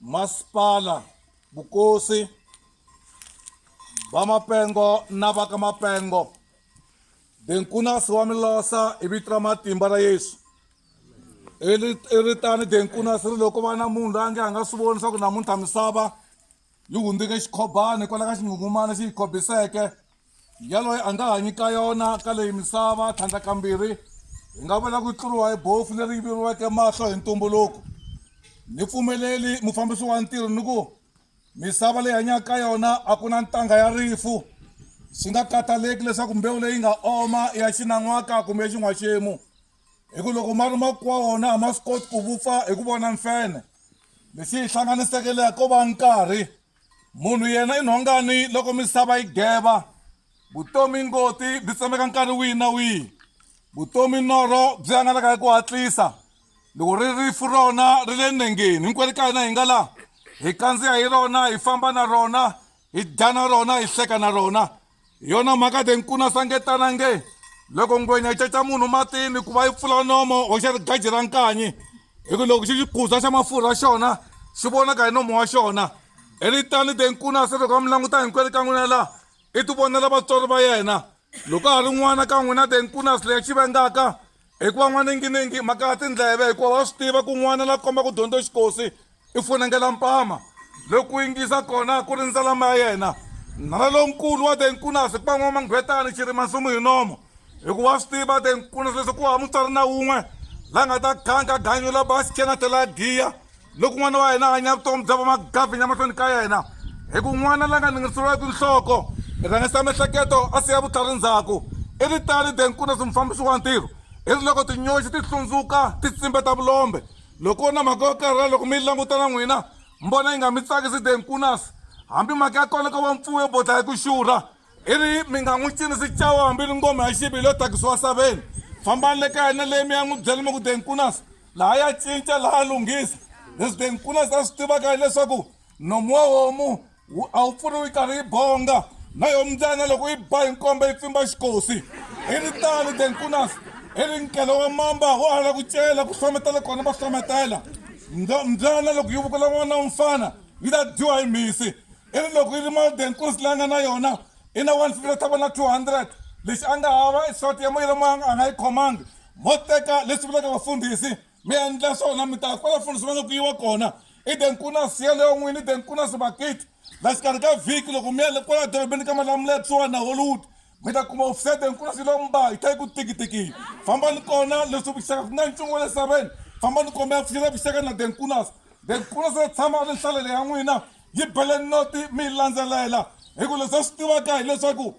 masipala vukosi vamapengo na va ka mapengo denkunasi wa milosa hi vito ra matimba ra yesu i ri tani denkunasi ri loko va na munhu la nge a nga swi voni swa ku namuntlha misava yi hundzike xikhobani hikwalaho ka xinghungumana xi yi khobiseke Yaloye a nga hanyi ka yona ka leyi misava tlhandlakambirhi, hi nga vula ku tluriwa hi bofu leri yiveriweke mahlo hi ntumbuluko. Ni pfumeleli mufambisi wa ntirho ni ku, Misava leyi hanyaka ka yona a ku na ntangha ya rifu, swi nga kataleki leswaku mbewu leyi nga oma i ya xinan'waka kumbe ya xin'waxemu, hi ku loko ma ri makuwa wona a ma swi koti ku vupfa hi ku vona mfenhe. Lexi yi hlanganiseke leyi ko va nkarhi. Munhu yena i nhongani loko misava yi geva, vutomi ngoti byi tsemeka nkarhi wihi na wihi, vutomi norho byi hangalaka hi ku hatlisa, loko ri rifu rona ri le nengeni hinkwerhu ka hina hi nga laha, hi kandziya hi rona, hi famba na rona, hi dya na rona, hi hleka na rona, hi yona mhaka de nkuna sangetana nge loko ngwenya yi caca munhu matini ku va yi pfula nomo hoxa rigaji ra nkanyi hi ku loko xi xikuza xa mafurha xona xi vonaka hi nomo wa xona hi ri tani de nkuna se loko a mi languta hinkwenu ka n'wina laha i ti vonela vatswari va yena loko a ha ri n'wana ka n'wina de nkuna sile xi vengaka Hikuva n'waningininghi mhaka ya tindleve hikuva wa swi tiva ku n'wana la komba ku dyondza xikosi i funengela mpama loku yingisa kona ku rindza lama ya yena nala lonkulu wa te nkunasi ku va n'wamanghwetani xirima nsumu hi nomo hikuva wa swi tiva te nkunasi leswi ku hava mutswari na wun'we la nga ta khanka ganyo la basikena tlhela giya loko n'wana wa hina a hanya vutomi bya vamagavinya emahlweni ka yena hi ku n'wana la nga ningiriseriweki nhloko i rhangisa miehleketo a siya vutlhari ndzhaku i ri tani de nkuna swi mufambisi wa ntirho i ri loko tinyoxi ti hlundzuka ti tsimbe ta vulombe loko na mhaka yo karhala loko mi yi languta na n'wina mi vona yi nga mi tsakisi de nkunasi hambi mhaka ya kona ko va mpfuwo yo bodla hi ku xurha Iri mi nga n'wi cinisi cawa hambi ri ngoma ya xivili yo tagisiwa saveni. Fambani le kaya na le mi ya n'wi byela mi ku, De Nkunas la a ya cinca, la a lunghisa. Leswi De Nkunas a swi tivaka hi leswaku nomu wa homu a wu pfuriwi yi karhi yi bonga, na yo mbyana loko yi ba hi nkombe yi pfimba xikosi. I ri tano De Nkunas, i ri nkele wa mamba wa ha la ku cela, ku hlometela kona va hlometela. Mbyana loko yi vukula n'wana wa mfana yi ta dyiwa hi mhisi, i ri loko yi ri modern kursi leyi a nga na yona i na 150 ta vona 200 lexi a nga hava i short ya moyira moya a nga yi khomangi mo teka leswi vulaka vafundhisi mi endla swona mi ta kwala fundhisi va nga ku yiwa kona i den ku na siya leyo n'wini i den ku na sibakiti la xikarhi ka vhiki loko mi yale kwala dorobeni ka malamula ya kusuhani na hollywood mi ta kuma wufusete nkulu swi lomba hi ta yi ku tikitiki fambani kona leswi vuxaka ku nga ntsongo le saveni fambani kombe ya pfuxela vuxaka na denkunas denkunas ya tshama a ri nhlalele ya n'wina yi bele noti mi yi landzelela hi ku leswi a swi tivaka hileswaku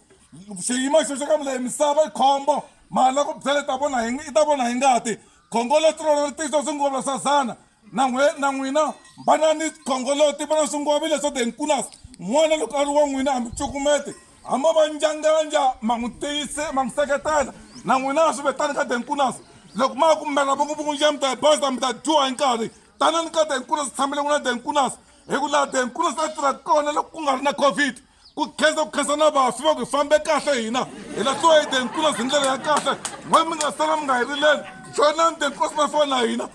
xiyimo xo xo ka mi leyi misava yi khombo mali ya ku byela ta vona hi i ta vona hi ngati khongo leswi rona ri tisa swingolo swa zana na n'we na n'wina va na ni khongoloti va na swingwavi leswo the nkunas n'wana loko a ri wa n'wina a mi cukumete hamba va njanganja ma n'wi tiyise ma n'wi seketela na n'wina swi vetani ka the nkunas loko ma ku mela va ku vukundxa mi ta hi baza mi ta dyiwa hi nkarhi tanani ka the nkunas tshamele n'wina the nkunas hi ku laha the nkunas a tirha kona loko ku nga ri na covid ku khensa ku khensa na vafi va ku hi fambe kahle hina hi la tsoyide nkulusi hi ndlela ya kahle n'we mi nga sala mi nga hi rileli joinani the nkulusi na fana na hina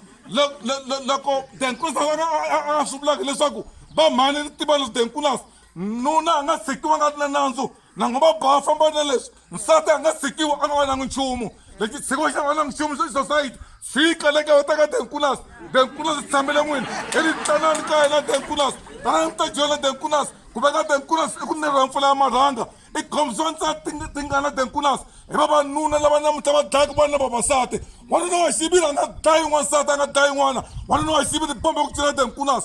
loko the nkulusi a swi vulaka leswaku va mhani ri tiva leswi the nkulusi nuna a nga tshikiwa nga ri na nandzu nango va boha famba na leswi nsati a nga sikiwa a nga va nangi nchumu lexi tshiko xa va nangi nchumu xa society xi qale ka vata ka denkunas denkunas swi tshamele n'wini i ri tsanani ka yena denkunas tanani mi ta joyina denkunas ku veka denkunas i ku nirha mpfula ya marhanga i khomisa nsati tingana denkunas hi vavanuna lava namuntlha va dlayaka vana vavasati wanuna wa xiviri a nga dlayi n'wansati a nga dlayi n'wana wanuna wa xiviri bombe ku cina denkunas